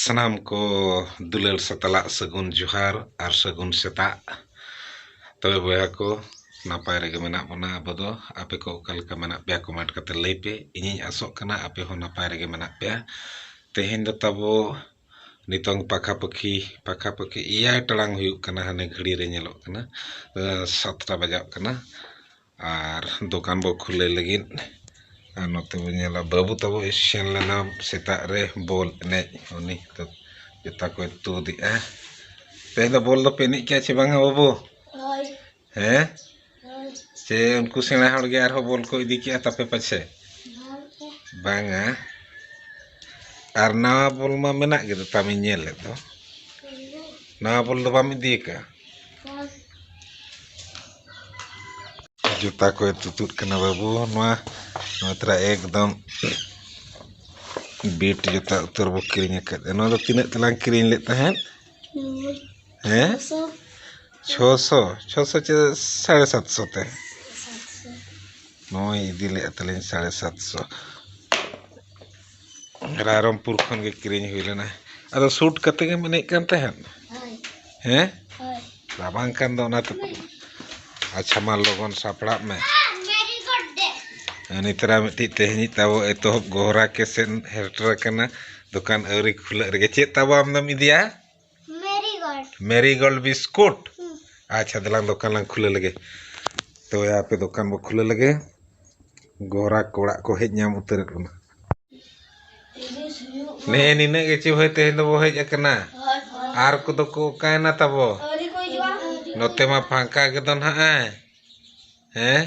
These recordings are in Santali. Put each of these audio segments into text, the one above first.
ᱥᱟᱱᱟᱢ ᱠᱚ ᱫᱩᱞᱟᱹᱲ ᱥᱟᱛᱟᱞᱟᱜ ᱥᱟᱹᱜᱩᱱ ᱡᱚᱦᱟᱨ ᱟᱨ ᱥᱟᱹᱜᱩᱱ ᱥᱮᱛᱟᱜ ᱛᱚᱵᱮ ᱵᱚᱭᱦᱟ ᱠᱚ ᱱᱟᱯᱟᱭ ᱨᱮᱜᱮ ᱢᱮᱱᱟᱜ ᱵᱚᱱᱟ ᱟᱵᱚ ᱫᱚ ᱟᱯᱮ ᱠᱚ ᱚᱠᱟ ᱞᱮᱠᱟ ᱢᱮᱱᱟᱜ ᱯᱮᱭᱟ ᱠᱚᱢᱮᱱᱴ ᱠᱟᱛᱮ ᱞᱟᱹᱭ ᱯᱮ ᱤᱧᱤᱧ ᱟᱥᱚᱜ ᱠᱟᱱᱟ ᱟᱯᱮ ᱦᱚᱸ ᱱᱟᱯᱟᱭ ᱨᱮᱜᱮ ᱢᱮᱱᱟᱜ ᱯᱮᱭᱟ ᱛᱮᱦᱮᱧ ᱫᱚ ᱛᱟᱵᱚ ᱱᱤᱛᱚᱝ ᱯᱟᱠᱷᱟᱯᱟᱹᱠᱷᱤ ᱯᱟᱠᱷᱟᱯᱟᱹᱠᱷᱤ ᱮᱭᱟᱭ ᱴᱟᱲᱟᱝ ᱦᱩᱭᱩᱜ ᱠᱟᱱᱟ ᱦᱟᱱᱮ ᱜᱷᱟᱹᱲᱤ ᱨᱮ ᱧᱮᱞᱚᱜ ᱠᱟᱱᱟ ᱥᱟᱛᱴᱟ ᱵᱟᱡᱟᱜ ᱠᱟᱱᱟ ᱟᱨ ᱫᱚᱠᱟᱱ ᱵᱚ ᱠᱷᱩᱞᱟᱹᱣ ᱞᱟᱹᱜᱤᱫ ᱟᱨ ᱱᱚᱛᱮ ᱵᱚᱱ ᱧᱮᱞᱟ ᱵᱟᱹᱵᱩ ᱛᱟᱵᱚ ᱥᱮᱱ ᱞᱮᱱᱟ ᱥᱮᱛᱟᱜ ᱨᱮ ᱵᱚᱞ ᱮᱱᱮᱡ ᱩᱱᱤ ᱫᱚ ᱡᱩᱛᱟ ᱠᱚᱭ ᱛᱩᱫ ᱮᱜᱼᱟ ᱛᱮᱦᱮᱧ ᱫᱚ ᱵᱚᱞ ᱫᱚᱯᱮ ᱮᱱᱮᱡ ᱠᱮᱜᱼᱟ ᱥᱮ ᱵᱟᱝ ᱟ ᱵᱟᱹᱵᱩ ᱦᱳᱭ ᱦᱮᱸ ᱦᱳᱭ ᱥᱮ ᱩᱱᱠᱩ ᱥᱮᱬᱟ ᱦᱚᱲ ᱜᱮ ᱟᱨᱦᱚᱸ ᱵᱚᱞ ᱠᱚ ᱤᱫᱤ ᱠᱮᱜᱼᱟ ᱛᱟᱯᱮ ᱯᱟᱪᱷᱮ ᱵᱟᱝ ᱜᱮ ᱵᱟᱝ ᱟ ᱟᱨ ᱱᱟᱣᱟ ᱵᱚᱞ ᱢᱟ ᱢᱮᱱᱟᱜ ᱜᱮ ᱛᱟᱢ ᱤᱧ ᱧᱮᱞᱮᱫ ᱫᱚ ᱱᱟᱣᱟ ᱵᱚᱞ ᱫᱚ ᱵᱟᱢ ᱤᱫᱤ ᱠᱟᱜᱼᱟ ᱡᱩᱛᱟ ᱠᱚᱭ ᱛᱩᱛᱩᱫ ᱠᱟᱱᱟ ᱵᱟᱹᱵᱩ ᱱᱚᱣᱟ ᱱᱚᱣᱟ ᱛᱟᱨᱟ ᱮᱠᱫᱚᱢ ᱵᱤᱴ ᱡᱩᱛᱟ ᱩᱛᱟᱹᱨ ᱵᱚ ᱠᱤᱨᱤᱧ ᱟᱠᱟᱫᱟ ᱱᱚᱣᱟ ᱫᱚ ᱛᱤᱱᱟᱹᱜ ᱛᱮᱞᱟᱝ ᱠᱤᱨᱤᱧ ᱞᱮᱫ ᱛᱟᱦᱮᱸᱫ ᱦᱮᱸ ᱪᱷᱚ ᱥᱚ ᱪᱷᱚ ᱥᱚ ᱪᱮ ᱥᱟᱲᱮ ᱥᱟᱛ ᱥᱚ ᱛᱮ ᱱᱚᱜᱼᱚᱭ ᱤᱫᱤ ᱞᱮᱫ ᱛᱟᱹᱞᱤᱧ ᱥᱟᱲᱮ ᱥᱟᱛ ᱥᱚ ᱨᱟᱭᱨᱚᱝᱯᱩᱨ ᱠᱷᱚᱱ ᱜᱮ ᱠᱤᱨᱤᱧ ᱦᱩᱭ ᱞᱮᱱᱟ ᱟᱫᱚ ᱥᱩᱴ ᱠᱟᱛᱮ ᱜᱮᱢ ᱮᱱᱮᱡ ᱠᱟᱱ ᱛᱟᱦᱮᱸᱫ ᱦᱮᱸ ᱨᱟᱵᱟᱝ ᱠᱟᱱ ᱫᱚ ᱚᱱᱟᱛᱮ ᱟᱪᱪᱷᱟ ᱢᱟ ᱞᱚᱜᱚᱱ ᱥᱟᱯᱲᱟᱜ ᱢᱮ ᱩᱱᱤ ᱛᱟᱨᱟ ᱢᱤᱫᱴᱤᱡ ᱛᱮᱦᱮᱧᱤᱡ ᱛᱟᱵᱚ ᱮᱛᱚᱦᱚᱵ ᱜᱚᱦᱨᱟ ᱠᱮᱥᱮᱱ ᱦᱮᱨᱴᱨ ᱠᱟᱱᱟ ᱫᱚᱠᱟᱱ ᱟᱹᱣᱨᱤ ᱠᱷᱩᱞᱟᱹᱜ ᱨᱮᱜᱮ ᱪᱮᱫ ᱛᱟᱵᱚ ᱟᱢ ᱫᱚᱢ ᱤᱫᱤᱭᱟ ᱢᱮᱨᱤᱜᱳᱞᱰ ᱵᱤᱥᱠᱩᱴ ᱟᱪᱪᱷᱟ ᱫᱮᱞᱟᱝ ᱫᱚᱠᱟᱱ ᱞᱟᱝ ᱠᱷᱩᱞᱟᱹ ᱞᱮᱜᱮ ᱛᱚ ᱟᱯᱮ ᱫᱚᱠᱟᱱ ᱵᱚ ᱠᱷᱩᱞᱟᱹ ᱞᱮᱜᱮ ᱜᱚᱨᱟ ᱠᱚᱲᱟᱜ ᱠᱚ ᱦᱮᱡ ᱧᱟᱢ ᱩᱛᱟᱹᱨ ᱠᱟᱱᱟ ᱱᱮ ᱱᱤᱱᱟᱹᱜ ᱜᱮ ᱪᱮ ᱵᱷᱟᱹᱭ ᱛᱮᱦᱮᱧ ᱫᱚᱵᱚ ᱦᱮᱡ ᱟᱠᱟᱱᱟ ᱟᱨ ᱠᱚᱫᱚ ᱠᱚ ᱚᱠᱟᱭᱮᱱᱟ ᱛᱟᱵᱚ ᱱᱚᱛᱮ ᱢᱟ ᱯᱷᱟᱸᱠᱟ ᱜᱮᱫᱚ ᱱᱟᱦᱟᱜ ᱦᱮᱸ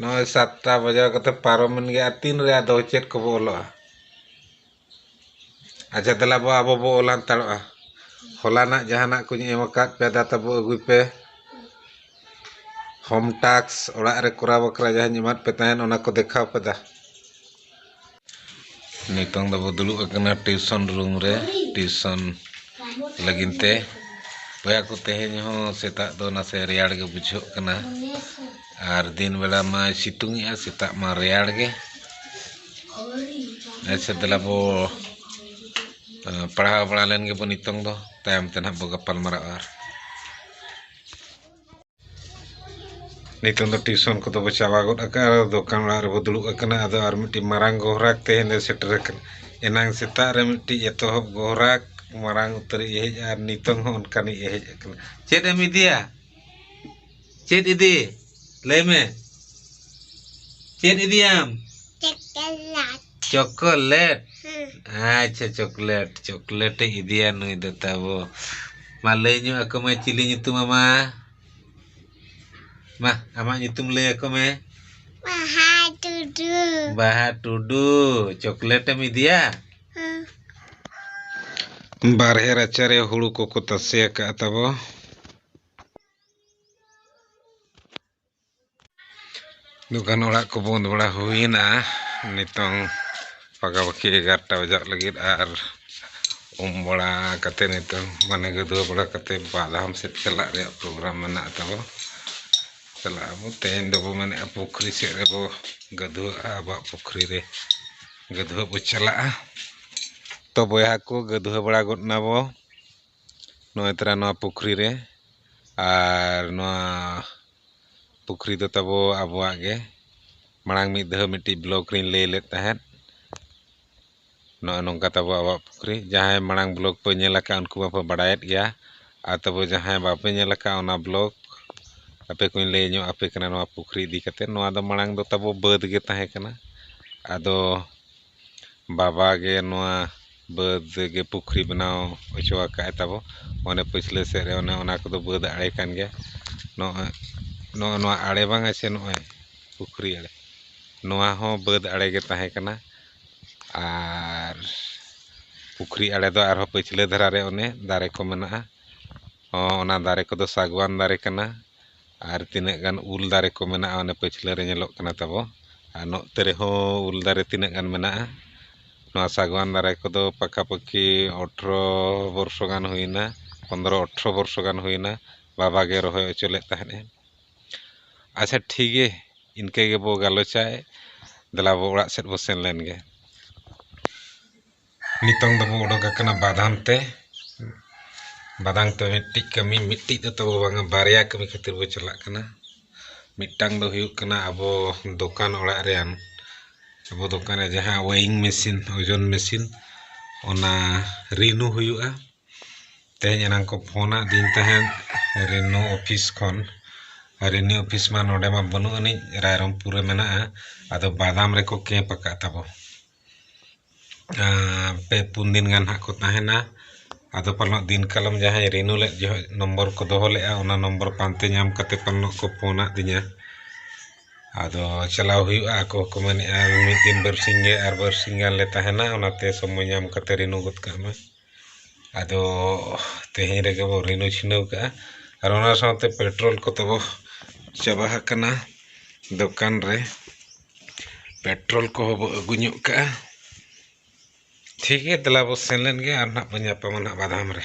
ᱱᱚᱜᱼᱚᱭ ᱥᱟᱛᱴᱟ ᱵᱟᱡᱟᱣ ᱠᱟᱛᱮ ᱯᱟᱨᱚᱢᱮᱱ ᱜᱮ ᱟᱨ ᱛᱤᱱ ᱨᱮ ᱟᱫᱚ ᱪᱮᱫ ᱠᱚᱵᱚ ᱚᱞᱚᱜᱼᱟ ᱟᱪᱪᱷᱟ ᱫᱮᱞᱟ ᱵᱚ ᱟᱵᱚ ᱵᱚ ᱚᱞ ᱦᱟᱱᱛᱟᱲᱚᱜᱼᱟ ᱦᱚᱞᱟᱱᱟᱜ ᱡᱟᱦᱟᱱᱟᱜ ᱠᱚᱧ ᱮᱢ ᱟᱠᱟᱫ ᱯᱮ ᱫᱟ ᱛᱟᱵᱚ ᱟᱹᱜᱩᱭ ᱯᱮ ᱦᱳᱢ ᱴᱟᱥᱠ ᱚᱲᱟᱜ ᱨᱮ ᱠᱚᱨᱟᱣ ᱵᱟᱠᱷᱨᱟ ᱡᱟᱦᱟᱸᱧ ᱮᱢᱟᱫ ᱯᱮ ᱛᱟᱦᱮᱱ ᱚᱱᱟ ᱠᱚ ᱫᱮᱠᱷᱟᱣ ᱯᱮ ᱫᱟ ᱱᱤᱛᱚᱝ ᱫᱚᱵᱚ ᱫᱩᱲᱩᱵ ᱟᱠᱟᱱᱟ ᱴᱤᱭᱩᱥᱚᱱ ᱨᱩᱢ ᱨᱮ ᱴᱤᱭᱩᱥᱚᱱ ᱞᱟᱹᱜᱤᱫ ᱛᱮ ᱵᱚᱭᱦᱟ ᱠᱚ ᱛᱮᱦᱮᱧ ᱦᱚᱸ ᱥᱮᱛᱟᱜ ᱫᱚ ᱱᱟᱥᱮ ᱨᱮᱭᱟᱲ ᱜᱮ ᱵᱩᱡᱷᱟᱹᱜ ᱠᱟᱱᱟ ᱟᱨ ᱫᱤᱱ ᱵᱮᱲᱟ ᱢᱟᱭ ᱥᱤᱛᱩᱝ ᱮᱜᱼᱟ ᱥᱮᱛᱟᱜ ᱢᱟ ᱨᱮᱭᱟᱲ ᱜᱮ ᱟᱪᱪᱷᱟ ᱫᱮᱞᱟ ᱵᱚ ᱯᱟᱲᱦᱟᱣ ᱵᱟᱲᱟ ᱞᱮᱱ ᱜᱮᱵᱚ ᱱᱤᱛᱚᱝ ᱫᱚ ᱛᱟᱭᱚᱢ ᱛᱮ ᱱᱟᱦᱟᱜ ᱵᱚ ᱜᱟᱯᱟᱞ ᱢᱟᱨᱟᱜᱼᱟ ᱟᱨ ᱱᱤᱛᱚᱝ ᱫᱚ ᱴᱤᱭᱩᱥᱚᱱ ᱠᱚᱫᱚ ᱵᱚ ᱪᱟᱵᱟ ᱜᱚᱫ ᱟᱠᱟᱫᱼᱟ ᱫᱚᱠᱟᱱ ᱚᱲᱟᱜ ᱨᱮᱵᱚ ᱫᱩᱲᱩᱵ ᱟᱠᱟᱱᱟ ᱟᱫᱚ ᱟᱨ ᱢᱤᱫᱴᱤᱡ ᱢᱟᱨᱟᱝ ᱜᱚᱦᱨᱟᱠ ᱛᱮᱦᱮᱧ ᱫᱚ ᱥᱮᱴᱮᱨ ᱟᱠᱟᱱᱟ ᱮᱱᱟᱝ ᱥᱮᱛᱟᱜ ᱨᱮ ᱢᱤᱫᱴᱤᱡ ᱮᱛᱚᱦᱚᱵ ᱜᱚᱦᱨᱟᱠ ᱢᱟᱨᱟᱝ ᱩᱛᱟᱹᱨᱤᱡ ᱮ ᱦᱮᱡ ᱟᱨ ᱱᱤᱛᱚᱝ ᱦᱚᱸ ᱚᱱᱠᱟᱱᱤᱡ ᱮ ᱦᱮᱡ ᱟᱠᱟᱱᱟ ᱪᱮᱫ ᱮᱢ ᱤᱫᱤᱭᱟ ᱪᱮᱫ ᱤᱫᱤ ᱞᱟᱹᱭ ᱢᱮ ᱪᱮᱫ ᱤᱫᱤᱭᱟᱢ ᱪᱚᱠᱞᱮᱴ ᱪᱚᱠᱞᱮᱴ ᱟᱪᱪᱷᱟ ᱪᱚᱠᱞᱮᱴ ᱪᱚᱠᱞᱮᱴ ᱮ ᱤᱫᱤᱭᱟ ᱱᱩᱭ ᱫᱚ ᱛᱟᱵᱚ ᱢᱟ ᱞᱟᱹᱭ ᱧᱚᱜ ᱟᱠᱚ ᱢᱮ ᱪᱤᱞᱤ ᱧᱩᱛᱩᱢ ᱟᱢᱟ ᱢᱟ ᱟᱢᱟᱜ ᱧᱩᱛᱩᱢ ᱞᱟᱹᱭ ᱟᱠᱚ ᱢᱮ ᱵᱟᱦᱟ ᱴᱩᱰᱩ ᱵᱟᱦᱟ ᱴᱩᱰᱩ ᱪᱚᱠᱞᱮᱴ ᱮᱢ ᱤᱫᱤᱭᱟ ᱵᱟᱨᱦᱮ ᱨᱟᱪᱟᱨᱮ ᱦᱩᱲᱩ ᱠᱚᱠᱚ ᱛᱟᱥᱮ ᱟᱠᱟᱫᱼᱟ ᱛᱟᱵᱚ ᱫᱚᱠᱟᱱ ᱚᱲᱟᱜ ᱠᱚ ᱵᱚᱸᱫᱽ ᱵᱟᱲᱟ ᱦᱩᱭᱮᱱᱟ ᱱᱤᱛᱚᱝ ᱯᱟᱠᱟᱯᱟᱠᱤ ᱮᱜᱟᱨᱚᱴᱟ ᱵᱟᱡᱟᱜ ᱞᱟᱹᱜᱤᱫ ᱟᱨ ᱩᱢ ᱵᱟᱲᱟ ᱠᱟᱛᱮ ᱱᱤᱛᱚᱝ ᱢᱟᱱᱮ ᱜᱟᱹᱫᱩᱣᱟᱹ ᱵᱟᱲᱟ ᱠᱟᱛᱮ ᱵᱟᱜᱷᱟᱢ ᱥᱮᱫ ᱪᱟᱞᱟᱜ ᱨᱮᱭᱟᱜ ᱯᱨᱳᱜᱨᱟᱢ ᱢᱮᱱᱟᱜ ᱛᱟᱵᱚ ᱪᱟᱞᱟᱜ ᱟᱵᱚ ᱛᱮᱦᱮᱧ ᱫᱚᱵᱚ ᱢᱮᱱᱮᱜᱼᱟ ᱯᱩᱠᱷᱨᱤ ᱥᱮᱫ ᱨᱮᱵᱚ ᱜᱟᱹᱫᱩᱣᱟᱹᱜᱼᱟ ᱟᱵᱚᱣᱟᱜ ᱯᱩᱠᱷᱨᱤ ᱨᱮ ᱜᱟᱹᱫᱩᱣᱟᱹᱜ ᱵᱚ ᱪᱟᱞᱟᱜᱼᱟ ᱛᱚ ᱵᱚᱭᱦᱟ ᱠᱚ ᱜᱟᱹᱫᱩᱣᱟᱹ ᱵᱟᱲᱟ ᱜᱚᱫ ᱱᱟᱵᱚ ᱱᱚᱜᱼᱚᱭ ᱛᱚᱨᱟ ᱱᱚᱣᱟ ᱯᱩᱠᱷᱨᱤ ᱨᱮ ᱟᱨ ᱱᱚᱣᱟ ᱯᱩᱠᱷᱨᱤ ᱫᱚ ᱛᱟᱵᱚ ᱟᱵᱚᱣᱟᱜ ᱜᱮ ᱢᱟᱲᱟᱝ ᱢᱤᱫ ᱫᱷᱟᱣ ᱢᱤᱫᱴᱤᱡ ᱵᱞᱚᱠ ᱨᱤᱧ ᱞᱟᱹᱭ ᱞᱮᱫ ᱛᱟᱦᱮᱸᱫ ᱱᱚᱜᱼᱚᱭ ᱱᱚᱝᱠᱟ ᱛᱟᱵᱚ ᱟᱵᱚᱣᱟᱜ ᱯᱩᱠᱷᱨᱤ ᱡᱟᱦᱟᱸᱭ ᱢᱟᱲᱟᱝ ᱵᱞᱚᱠ ᱯᱮ ᱧᱮᱞ ᱟᱠᱟᱫ ᱩᱱᱠᱩ ᱢᱟᱯᱮ ᱵᱟᱲᱟᱭᱮᱫ ᱜᱮᱭᱟ ᱟᱨ ᱛᱚᱵᱮ ᱡᱟᱦᱟᱸᱭ ᱵᱟᱯᱮ ᱧᱮᱞ ᱟᱠᱟᱫ ᱚᱱᱟ ᱵᱞᱚᱠ ᱟᱯᱮ ᱠᱚᱧ ᱞᱟᱹᱭ ᱧᱚᱜ ᱟᱯᱮ ᱠᱟᱱᱟ ᱱᱚᱣᱟ ᱯᱩᱠᱷᱨᱤ ᱤᱫᱤ ᱠᱟᱛᱮᱫ ᱱᱚᱣᱟ ᱫᱚ ᱢᱟᱲᱟᱝ ᱫᱚ ᱛᱟᱵᱚ ᱵᱟᱹᱫᱽ ᱜᱮ ᱛᱟᱦᱮᱸᱠᱟᱱᱟ ᱟᱫᱚ ᱵᱟᱵᱟ ᱜᱮ ᱱᱚᱣᱟ ᱵᱟᱹᱫᱽ ᱜᱮ ᱯᱩᱠᱷᱨᱤ ᱵᱮᱱᱟᱣ ᱦᱚᱪᱚ ᱟᱠᱟᱫᱼᱟᱭ ᱛᱟᱵᱚ ᱚᱱᱮ ᱯᱟᱹᱪᱷᱞᱟᱹ ᱥᱮᱫ ᱨᱮ ᱚᱱᱮ ᱚᱱᱟ ᱠᱚᱫᱚ ᱵᱟᱹᱫᱽ ᱟᱲᱮ ᱠᱟᱱ ᱜᱮᱭᱟ ᱱᱚᱜᱼᱚᱭ ᱱᱚᱜᱼᱚ ᱱᱚᱣᱟ ᱟᱲᱮ ᱵᱟᱝᱟ ᱥᱮ ᱱᱚᱜᱼᱚᱭ ᱯᱩᱠᱷᱨᱤ ᱟᱲᱮ ᱱᱚᱣᱟ ᱦᱚᱸ ᱵᱟᱹᱫᱽ ᱟᱲᱮ ᱜᱮ ᱛᱟᱦᱮᱸᱠᱟᱱᱟ ᱟᱨ ᱯᱩᱠᱷᱨᱤ ᱟᱲᱮ ᱫᱚ ᱟᱨᱦᱚᱸ ᱯᱟᱹᱪᱷᱞᱟᱹ ᱫᱷᱟᱨᱟ ᱨᱮ ᱚᱱᱮ ᱫᱟᱨᱮ ᱠᱚ ᱢᱮᱱᱟᱜᱼᱟ ᱦᱚᱸ ᱚᱱᱟ ᱫᱟᱨᱮ ᱠᱚᱫᱚ ᱥᱟᱜᱽᱣᱟᱱ ᱫᱟᱨᱮ ᱠᱟᱱᱟ ᱟᱨ ᱛᱤᱱᱟᱹᱜ ᱜᱟᱱ ᱩᱞ ᱫᱟᱨᱮ ᱠᱚ ᱢᱮᱱᱟᱜᱼᱟ ᱚᱱᱮ ᱯᱟᱹᱪᱷᱞᱟᱹ ᱨᱮ ᱧᱮᱞᱚᱜ ᱠᱟᱱᱟ ᱛᱟᱵᱚ ᱟᱨ ᱱᱚᱛᱮ ᱨᱮᱦᱚᱸ ᱩᱞ ᱫᱟᱨᱮ ᱛᱤᱱᱟᱹᱜ ᱜᱟᱱ ᱢᱮᱱᱟᱜᱼᱟ ᱱᱚᱣᱟ ᱥᱟᱜᱽᱣᱟᱱ ᱫᱟᱨᱮ ᱠᱚᱫᱚ ᱯᱟᱠᱟ ᱯᱟᱹᱠᱤ ᱚᱴᱷᱨᱚ ᱵᱚᱨᱥᱚ ᱜᱟᱱ ᱦᱩᱭᱮᱱᱟ ᱯᱚᱸᱫᱽᱨᱚ ᱚᱴᱷᱨᱚ ᱵᱚᱨᱥᱚ ᱜᱟᱱ ᱦᱩᱭᱮᱱᱟ ᱵᱟᱵᱟ ᱜᱮ ᱨᱚᱦᱚᱭ ᱦᱚᱪᱚ ᱞᱮᱫ ᱛᱟᱦᱮᱸᱫ ᱮ ᱟᱪᱪᱷᱟ ᱴᱷᱤᱠ ᱜᱮ ᱤᱱᱠᱟᱹ ᱜᱮᱵᱚ ᱜᱟᱞᱚᱪᱟ ᱫᱮᱞᱟ ᱵᱚ ᱚᱲᱟᱜ ᱥᱮᱫ ᱵᱚ ᱥᱮᱱ ᱞᱮᱱ ᱜᱮ ᱱᱤᱛᱚᱝ ᱫᱚᱵᱚ ᱚᱰᱚᱠ ᱟᱠᱟᱱᱟ ᱵᱟᱫᱷᱟᱱ ᱛᱮ ᱵᱟᱫᱷᱟᱱ ᱛᱮ ᱢᱤᱫᱴᱤᱡ ᱠᱟᱹᱢᱤ ᱢᱤᱫᱴᱤᱡ ᱫᱚ ᱛᱟᱵᱚ ᱵᱟᱝᱟ ᱵᱟᱨᱭᱟ ᱠᱟᱹᱢᱤ ᱠᱷᱟᱹᱛᱤᱨ ᱵᱚ ᱪᱟᱞᱟᱜ ᱠᱟᱱᱟ ᱢᱤᱫᱴᱟᱝ ᱫᱚ ᱦᱩᱭᱩᱜ ᱠᱟᱱᱟ ᱟᱵᱚ ᱫᱚᱠᱟᱱ ᱚᱲᱟᱜ ᱨᱮᱭᱟᱜ ᱟᱵᱚ ᱫᱚᱠᱟᱱ ᱨᱮ ᱡᱟᱦᱟᱸ ᱳᱭᱮᱨᱤᱝ ᱢᱮᱹᱥᱤᱱ ᱳᱡᱚᱱ ᱢᱮᱹᱥᱤᱱ ᱚᱱᱟ ᱨᱤᱱᱤᱭᱩ ᱦᱩᱭᱩᱜᱼᱟ ᱛᱮᱦᱮᱧ ᱮᱱᱟᱝ ᱠᱚ ᱯᱷᱳᱱ ᱟᱹᱫᱤᱧ ᱛᱟᱦᱮᱸᱫ ᱨᱤᱱᱤᱭᱩ ᱚᱯᱷᱤᱥ ᱠᱷᱚᱱ ᱨᱤᱱᱤᱭᱩ ᱚᱯᱷᱤᱥ ᱢᱟ ᱱᱚᱰᱮ ᱢᱟ ᱵᱟᱹᱱᱩᱜ ᱟᱹᱱᱤᱡ ᱨᱟᱭᱨᱚᱝᱯᱩᱨ ᱨᱮ ᱢᱮᱱᱟᱜᱼᱟ ᱟᱫᱚ ᱵᱟᱫᱟᱢ ᱨᱮᱠᱚ ᱠᱮᱢᱯ ᱟᱠᱟᱫ ᱛᱟᱵᱚ ᱯᱮ ᱯᱩᱱ ᱫᱤᱱ ᱜᱟᱱ ᱦᱟᱸᱜ ᱠᱚ ᱛᱟᱦᱮᱱᱟ ᱟᱫᱚ ᱯᱟᱞᱮᱱᱚᱜ ᱫᱤᱱ ᱠᱟᱞᱚᱢ ᱡᱟᱦᱟᱸᱭ ᱨᱤᱱᱩ ᱞᱮᱫ ᱡᱚᱦᱚᱜ ᱱᱚᱢᱵᱚᱨ ᱠᱚ ᱫᱚᱦᱚ ᱞᱮᱫᱼᱟ ᱚᱱᱟ ᱱᱚᱢᱵᱚᱨ ᱯᱟᱱᱛᱮ ᱧᱟᱢ ᱠᱟᱛᱮᱫ ᱯᱟᱞᱮᱱᱚᱜ ᱠᱚ ᱯᱷᱳᱱ ᱟᱹᱫᱤᱧᱟ ᱟᱫᱚ ᱪᱟᱞᱟᱣ ᱦᱩᱭᱩᱜᱼᱟ ᱟᱠᱚ ᱦᱚᱸᱠᱚ ᱢᱮᱱᱮᱫᱼᱟ ᱢᱤᱫ ᱫᱤᱱ ᱵᱟᱨ ᱥᱤᱧ ᱜᱮ ᱟᱨ ᱵᱟᱨ ᱥᱤᱧ ᱜᱟᱱ ᱞᱮ ᱛᱟᱦᱮᱱᱟ ᱚᱱᱟᱛᱮ ᱥᱚᱢᱚᱭ ᱧᱟᱢ ᱠᱟᱛᱮᱫ ᱨᱤᱱᱩ ᱜᱚᱫ ᱠᱟᱜ ᱢᱮ ᱟᱫᱚ ᱛᱮᱦᱮᱧ ᱨᱮᱜᱮ ᱵᱚ ᱨᱤᱱᱩ ᱪᱷᱤᱱᱟᱹᱣ ᱠᱟᱜᱼᱟ ᱟᱨ ᱚᱱᱟ ᱥᱟᱶᱛᱮ ᱯᱮᱴᱨᱳᱞ ᱠᱚ ᱛᱟᱵᱚ ᱪᱟᱵᱟ ᱟᱠᱟᱱᱟ ᱫᱚᱠᱟᱱ ᱨᱮ ᱯᱮᱴᱨᱳᱞ ᱠᱚᱦᱚᱸ ᱵᱚ ᱟᱹᱜᱩ ᱧᱚᱜ ᱠᱟᱜᱼᱟ ᱴᱷᱤᱠ ᱜᱮᱭᱟ ᱫᱮᱞᱟ ᱵᱚ ᱥᱮᱱ ᱞᱮᱱ ᱜᱮ ᱟᱨ ᱱᱟᱜ ᱵᱚ ᱧᱟᱯᱟᱢᱟ ᱱᱟᱜ ᱵᱟᱫᱷᱟᱢ ᱨᱮ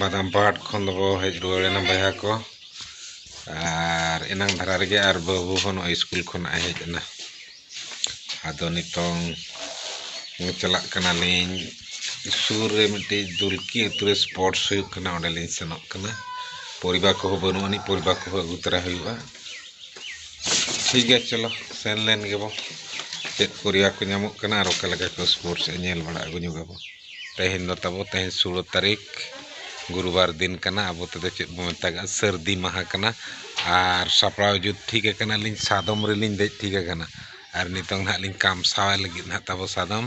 ᱵᱟᱫᱟᱢ ᱯᱟᱦᱟᱴ ᱠᱷᱚᱱ ᱫᱚᱠᱚ ᱦᱮᱡ ᱨᱩᱣᱟᱹᱲ ᱮᱱᱟ ᱵᱚᱭᱦᱟ ᱠᱚ ᱟᱨ ᱮᱱᱟᱝ ᱫᱷᱟᱨᱟ ᱨᱮᱜᱮ ᱟᱨ ᱵᱟᱹᱵᱩ ᱦᱚᱸ ᱱᱚᱜᱼᱚᱭ ᱥᱠᱩᱞ ᱠᱷᱚᱱᱟᱜ ᱦᱮᱡ ᱮᱱᱟ ᱟᱫᱚ ᱱᱤᱛᱚᱝ ᱪᱟᱞᱟᱜ ᱠᱟᱱᱟᱞᱤᱧ ᱥᱩᱨ ᱨᱮ ᱢᱤᱫᱴᱤᱡ ᱫᱩᱞᱠᱤ ᱟᱹᱛᱩ ᱨᱮ ᱥᱯᱳᱨᱴᱥ ᱦᱩᱭᱩᱜ ᱠᱟᱱᱟ ᱚᱸᱰᱮᱞᱤᱧ ᱥᱮᱱᱚᱜ ᱠᱟᱱᱟ ᱯᱚᱨᱤᱵᱟᱨ ᱠᱚᱦᱚᱸ ᱵᱟᱹᱱᱩᱜ ᱟᱹᱱᱤᱡ ᱯᱚᱨᱤᱵᱟᱨ ᱠᱚᱦᱚᱸ ᱟᱹᱜᱩ ᱛᱚᱨᱟ ᱦᱩᱭᱩᱜᱼᱟ ᱴᱷᱤᱠ ᱜᱮᱭᱟ ᱪᱚᱞᱚ ᱥᱮᱱ ᱞᱮᱱ ᱜᱮᱵᱚ ᱪᱮᱫ ᱯᱚᱨᱤᱭᱟ ᱠᱚ ᱧᱟᱢᱚᱜ ᱠᱟᱱᱟ ᱟᱨ ᱚᱠᱟ ᱞᱮᱠᱟ ᱠᱚ ᱥᱯᱳᱨᱴᱥ ᱮ ᱧᱮᱞ ᱵᱟᱲᱟ ᱟᱹᱜᱩ ᱧᱚᱜᱟᱵᱚ ᱛᱮᱦᱮᱧ ᱫᱚ ᱛᱟᱵᱚ ᱛᱮᱦᱮᱧ ᱥᱳᱞᱳ ᱛᱟᱹᱨᱤᱠᱷ ᱜᱩᱨᱩᱵᱟᱨ ᱫᱤᱱ ᱠᱟᱱᱟ ᱟᱵᱚ ᱛᱮᱫᱚ ᱪᱮᱫ ᱵᱚ ᱢᱮᱛᱟᱜᱼᱟ ᱥᱟᱹᱨᱫᱤ ᱢᱟᱦᱟ ᱠᱟᱱᱟ ᱟᱨ ᱥᱟᱯᱲᱟᱣ ᱡᱩᱛ ᱴᱷᱤᱠ ᱟᱠᱟᱱᱟᱞᱤᱧ ᱥᱟᱫᱚᱢ ᱨᱮᱞᱤᱧ ᱫᱮᱡ ᱴᱷᱤᱠ ᱟᱠᱟᱱᱟ ᱟᱨ ᱱᱤᱛᱚᱝ ᱦᱟᱸᱜ ᱞᱤᱧ ᱠᱟᱢᱥᱟᱣ ᱞᱟᱹᱜᱤᱫ ᱦᱟᱸᱜ ᱛᱟᱵᱚ ᱥᱟᱫᱚᱢ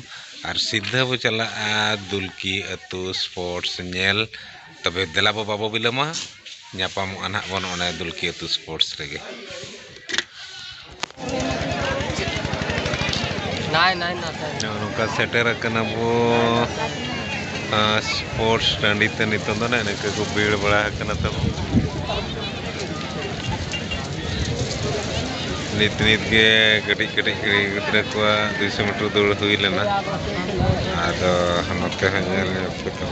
ᱟᱨ ᱥᱤᱫᱷᱟᱹ ᱵᱚ ᱪᱟᱞᱟᱜᱼᱟ ᱫᱩᱞᱠᱤ ᱟᱹᱛᱩ ᱥᱯᱳᱨᱴᱥ ᱧᱮᱞ ᱛᱚᱵᱮ ᱫᱮᱞᱟ ᱵᱚ ᱵᱟᱵᱚ ᱵᱤᱞᱚᱢᱟ ᱧᱟᱯᱟᱢᱚᱜᱼᱟ ᱱᱟᱦᱟᱜ ᱵᱚᱱ ᱚᱱᱮ ᱫᱩᱞᱠᱤ ᱟᱹᱛᱩ ᱥᱯᱳᱨᱴᱥ ᱨᱮᱜᱮ ᱱᱚᱝᱠᱟ ᱥᱮᱴᱮᱨ ᱟᱠᱟᱱᱟ ᱵᱚ ᱥᱯᱳᱨᱴᱥ ᱴᱟᱺᱰᱤ ᱛᱮ ᱱᱤᱛᱚᱝ ᱫᱚ ᱱᱟᱦᱟᱜ ᱱᱤᱝᱠᱟᱹ ᱠᱚ ᱵᱷᱤᱲ ᱵᱟᱲᱟ ᱟᱠᱟᱱᱟ ᱛᱟᱵᱚ ᱱᱤᱛ ᱱᱤᱛ ᱜᱮ ᱠᱟᱹᱴᱤᱡ ᱠᱟᱹᱴᱤᱡ ᱠᱩᱲᱤ ᱜᱤᱫᱽᱨᱟᱹ ᱠᱚᱣᱟᱜ ᱫᱩᱭᱥᱚ ᱢᱤᱴᱟᱨ ᱫᱟᱹᱲ ᱦᱩᱭ ᱞᱮᱱᱟ ᱟᱫᱚ ᱱᱚᱛᱮ ᱦᱚᱸ ᱧᱮᱞ ᱧᱚᱜ ᱠᱟᱛᱮᱫ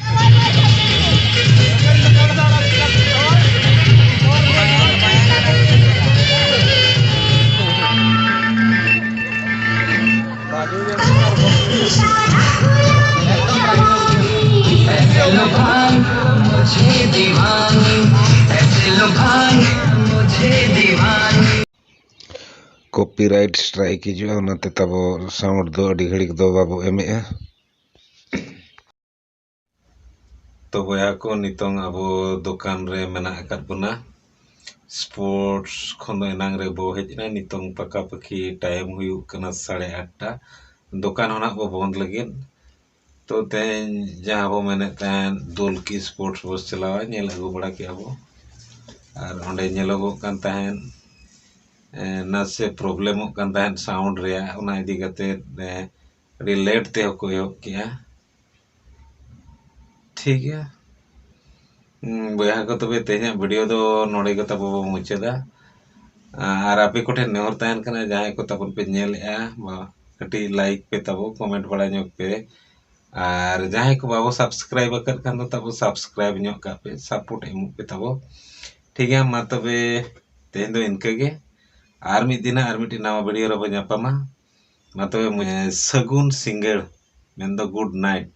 ᱠᱚᱯᱤᱨᱟᱭᱤᱴ ᱥᱴᱨᱟᱭᱤᱠ ᱦᱤᱡᱩᱜᱼᱟ ᱚᱱᱟᱛᱮ ᱛᱟᱵᱚ ᱥᱟᱣᱩᱱᱰ ᱫᱚ ᱟᱹᱰᱤ ᱜᱷᱟᱹᱲᱤᱡ ᱫᱚ ᱵᱟᱵᱚ ᱮᱢᱮᱜᱼᱟ ᱛᱚ ᱵᱚᱭᱦᱟ ᱠᱚ ᱱᱤᱛᱚᱝ ᱟᱵᱚ ᱫᱚᱠᱟᱱ ᱨᱮ ᱢᱮᱱᱟᱜ ᱟᱠᱟᱫ ᱵᱚᱱᱟ ᱥᱯᱳᱨᱴᱥ ᱠᱷᱚᱱ ᱫᱚ ᱮᱱᱟᱝ ᱨᱮ ᱵᱚ ᱦᱮᱡ ᱮᱱᱟ ᱱᱤᱛᱚᱝ ᱯᱟᱠᱟ ᱯᱟᱠᱤ ᱴᱟᱭᱤᱢ ᱦᱩᱭᱩᱜ ᱠᱟᱱᱟ ᱥᱟᱲᱮ ᱟᱴᱴᱟ ᱫᱚᱠᱟᱱ ᱦᱚᱸ ᱱᱟᱜ ᱵᱚ ᱵᱚᱱᱫ ᱞᱟᱹᱜᱤᱫ ᱛᱚ ᱛᱮᱦᱮᱧ ᱡᱟᱦᱟᱸ ᱵᱚ ᱢᱮᱱᱮᱫ ᱛᱟᱦᱮᱸᱫ ᱫᱩᱞᱠᱤ ᱥᱯᱳᱨᱴᱥ ᱵᱚ ᱪᱟᱞᱟᱣᱟ ᱧᱮᱞ ᱟᱹᱜᱩ ᱵᱟᱲᱟ ᱠᱮᱜᱼᱟ ᱵᱚ ᱟᱨ ᱚᱸᱰᱮ ᱧᱮᱞᱚᱜᱚᱜ ᱠᱟᱱ ᱛᱟᱦᱮᱸᱫ ᱱᱟᱥᱮ ᱯᱨᱚᱵᱞᱮᱢᱚᱜ ᱠᱟᱱ ᱛᱟᱦᱮᱸᱫ ᱥᱟᱣᱩᱱᱰ ᱨᱮᱭᱟᱜ ᱚᱱᱟ ᱤᱫᱤ ᱠᱟᱛᱮᱫ ᱟᱹᱰᱤ ᱞᱮᱴ ᱛᱮᱦᱚᱸ ᱠᱚ ᱮᱦᱚᱵ ᱠᱮᱜᱼᱟ ᱴᱷᱤᱠ ᱜᱮᱭᱟ ᱵᱚᱭᱦᱟ ᱠᱚ ᱛᱚᱵᱮ ᱛᱮᱦᱮᱧᱟᱜ ᱵᱷᱤᱰᱤᱭᱳ ᱫᱚ ᱱᱚᱰᱮ ᱜᱮ ᱛᱟᱵᱚ ᱵᱚ ᱢᱩᱪᱟᱹᱫᱟ ᱟᱨ ᱟᱯᱮ ᱠᱚᱴᱷᱮᱱ ᱱᱮᱦᱚᱨ ᱛᱟᱦᱮᱱ ᱠᱟᱱᱟ ᱡᱟᱦᱟᱸᱭ ᱠᱚ ᱛᱟᱵᱚᱱ ᱯᱮ ᱧᱮᱞᱮᱜᱼᱟ ᱵᱟ ᱠᱟᱹᱴᱤᱡ ᱞᱟᱭᱤᱠ ᱯᱮ ᱛᱟᱵᱚ ᱠᱚᱢᱮᱱᱴ ᱵᱟᱲᱟ ᱧᱚᱜ ᱯᱮ ᱟᱨ ᱡᱟᱦᱟᱸᱭ ᱠᱚ ᱵᱟᱵᱚ ᱥᱟᱵᱥᱠᱨᱟᱭᱤᱵ ᱟᱠᱟᱫ ᱠᱷᱟᱱ ᱫᱚ ᱛᱟᱵᱚ ᱥᱟᱵᱥᱠᱨᱟᱭᱤᱵ ᱧᱚᱜ ᱠᱟᱜ ᱯᱮ ᱥᱟᱯᱳᱨᱴ ᱮᱢᱚᱜ ᱯᱮ ᱛᱟᱵᱚ ᱴᱷᱤᱠ ᱜᱮᱭᱟ ᱢᱟ ᱛᱚᱵᱮ ᱛᱮᱦᱮᱧ ᱫᱚ ᱤᱱᱠᱟᱹ ᱜᱮ ᱟᱨ ᱢᱤᱫ ᱫᱤᱱ ᱟᱨ ᱢᱤᱫᱴᱤᱡ ᱱᱟᱣᱟ ᱵᱷᱤᱰᱤᱭᱳ ᱨᱮᱵᱚ ᱧᱟᱯᱟᱢᱟ ᱢᱟ ᱛᱚᱵᱮ ᱥᱟᱹᱜᱩᱱ ᱥᱤᱸᱜᱟᱹᱲ ᱢᱮᱱᱫᱚ ᱜᱩᱰ ᱱᱟᱭᱤᱴ